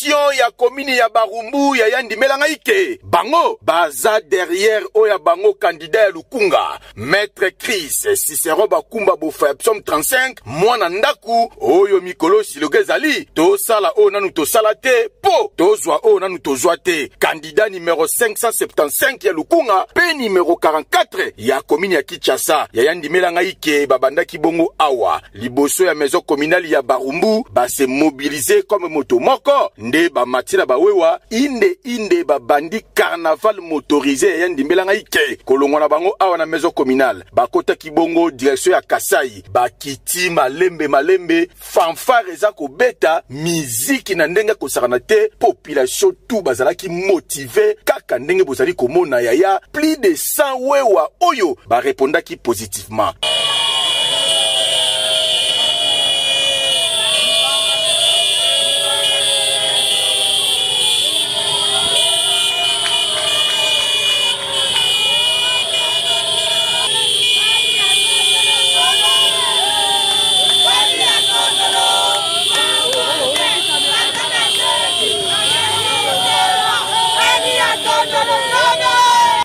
gestion ya komini ya barumbu ya yandimela ngai ke bango baza derrière oyo ya bango kandida ya lukunga maître chris cicero bakumba bofa ya psaume 35 mwana ndako oyo mikolo siloka ezali tosala oyo nanu tosala te po tozwa oyo nanu tozwa te kandida numero 575 ya lukunga pe numero 44 ya komini ya kinshasa ya yandimela ngai ke babandaki bongo awa liboso ya maison communale ya barumbu base mobilize comme moto moko nde bamati na bawewa inde inde babandi carnaval motorise ya ndimbela ngai ke kolongwa na bango awa na maison communale bakotaki bongo direction ya kasai bakiti malembe malembe fanfare eza kobeta miziki na ndenge kosakana te population tout bazalaki motive kaka ndenge bozali komona yaya plus de sans wewa oyo ba repondaki positivement.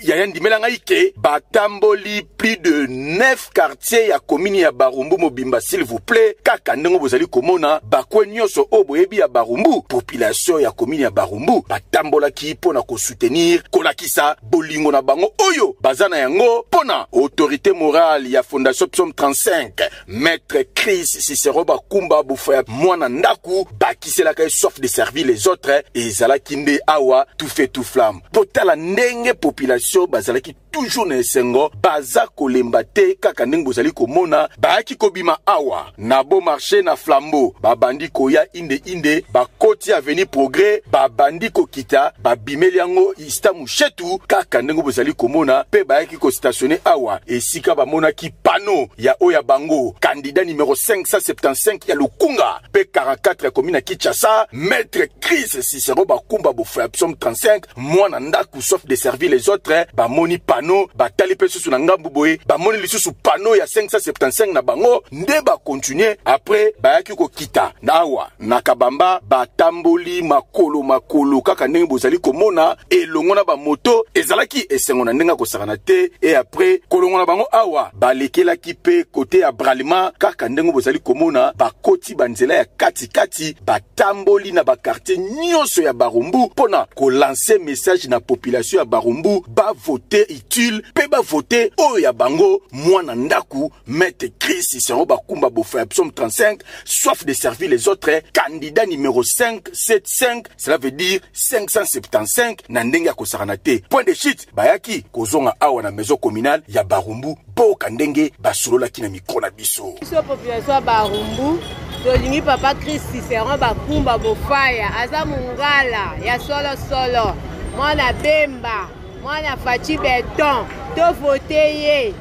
yaya ndimela ngai ke batamboli plus de 9 quartier ya komini ya barumbu mobimba s'il vous plaît kaka ndenge bozali komona bakwe nyonso oyo boyebi ya barumbu population ya komini ya barumbu batambolaki mpo na kosoutenir kolakisa bolingo na bango oyo baza na yango mpo na autorité morale ya fondation psaume 35 Maître Chris Cicero Bakumba Bouffa ya mwana ndaku bakiselaka ye soif de servir les autres ezalaki nde awa tout fait tout flamme mpo tala ndenge population bazalaki toujours na esengo baza kolemba te kaka ndenge bozali komona bayaki kobima awa na beau marché na flambeau babandi koya inde inde bakoti avenue progrès babandi kokita babimeli yango ista mushetu kaka ndenge bozali komona mpe bayaki kostationne awa esika bamonaki pano ya oyo ya bango kandida numero 575 ya Lukunga pe 44 ya komina Kinshasa, maître Chris Cicero Bakumba Bofo ya psaume 35, mwana ndaku sauf de servir les autres, bamoni panneau, batali pe susu na ngambu boye, bamoni lisusu panneau ya 575 na bango, nde ba continuer après bayaki kokita na awa. na kabamba batamboli makolo makolo kaka ndenge bozali komona elongo na bamoto ezalaki esengo na ndenge akosakana te e apres kolongo na bango awa balekelaki mpe kote ya bralima kaka ndenge bozali komona bakoti banzela ya katikati batamboli na bakartier nyonso ya barumbu mpo na kolanse message na population ya barumbu bavote utile mpe bavote oyo ya bango mwana ndako Maître Chris Isango Bakumba Bofa psaume 35, soif de servir les autres, candidat numéro 5, 7, 5, cela veut dire 575 na ndenge ya kosakana te. Point de chute, bayaki kozonga awa na maison communale ya Barumbu, boka ndenge basololaki na mikro na biso. Biso population ya Barumbu, tolingi papa Chris Isango Bakumba Bofaya, aza mungala ya solo solo, mwana Bemba, mwana Fachi Beton, to vote ye.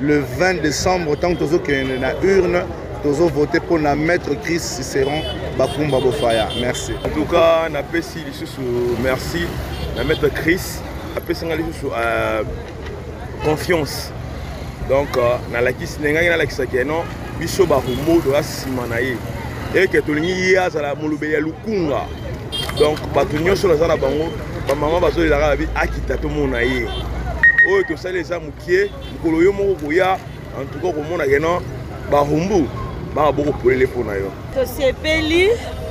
le 20 décembre ntango tozokende na urne tozovote mpo na maître chris ciceron bakumba bofaya merci en tout cas napesi lisusu merci na maître chris apesi ngai lisusu euh, confiance donc euh, nalakisi ndengaki nalakisaki non biso barumbu toza nsima na ye eke tolingi ye azala molobeli ya lukunga donc bato nyonso naza na bango bamama bazolelaka babi akita tomona ye oyo tosali eza kie mokolo yo moko koya antuka okomona keno bahumbu baka bokopolele mpo na yo tosepeli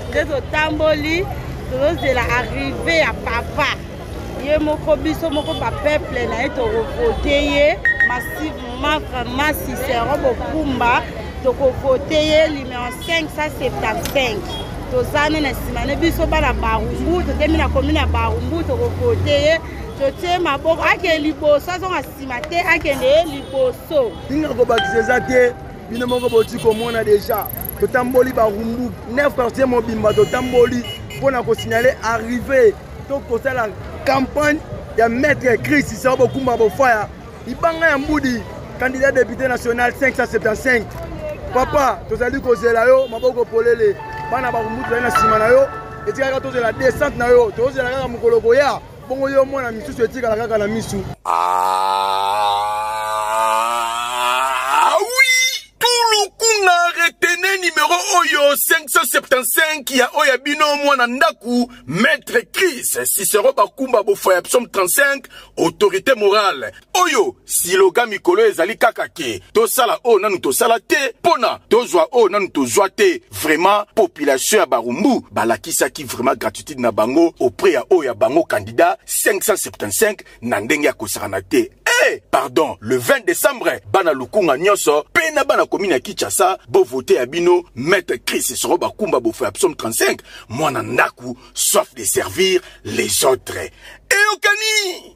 nde totamboli tozozela arrive ya papa ye moko biso moko bapeuple na ye tokovote ye massivement vraiment cicero bokumba tokovote ye numero 575 toza ne na nsima ne biso bana barumbu totemi na komi na barumbu tokovote ye totie maboko akende liboso azonga nsima te akende ye liboso ndinga kobakisa eza te bino moko boti komona deja totamboli barumbu 9 quartier mobimba totamboli mpo na kosignale arrive to kosala campagne ya maître christ sao bokumba bofaya libanga ya mbudi candidat député national 575 papa tozali kozela yo maboko polele bana bakumbu tozali na nsima na yo etikaka tozela descente na yo tozela kaka mokolo koya bongo yo mwana misusu etikala kaka na misu ah, oui tulukuna retene numero oyo 575 ya oyo ya bino mwana ndako Maître Chris Cicero Bakumba Bofaya Psaume 35 autorité morale oyo siloga mikolo ezali kaka ke tosala oyo nanu tosala te pona tozwa oyo nanu tozwa te vraiment population ya barumbu balakisaki vraiment gratitude na bango auprès ya oyo ya bango candidat 575 na ndenge ya kosakana te hey, pardon le 20 décembre bana lukunga nyonso mpe na bana komi na kinshasa bovote ya bino maître chris soro bakumba bofo ya psaume 35 mwana ndaku soif de servir les autres eyokani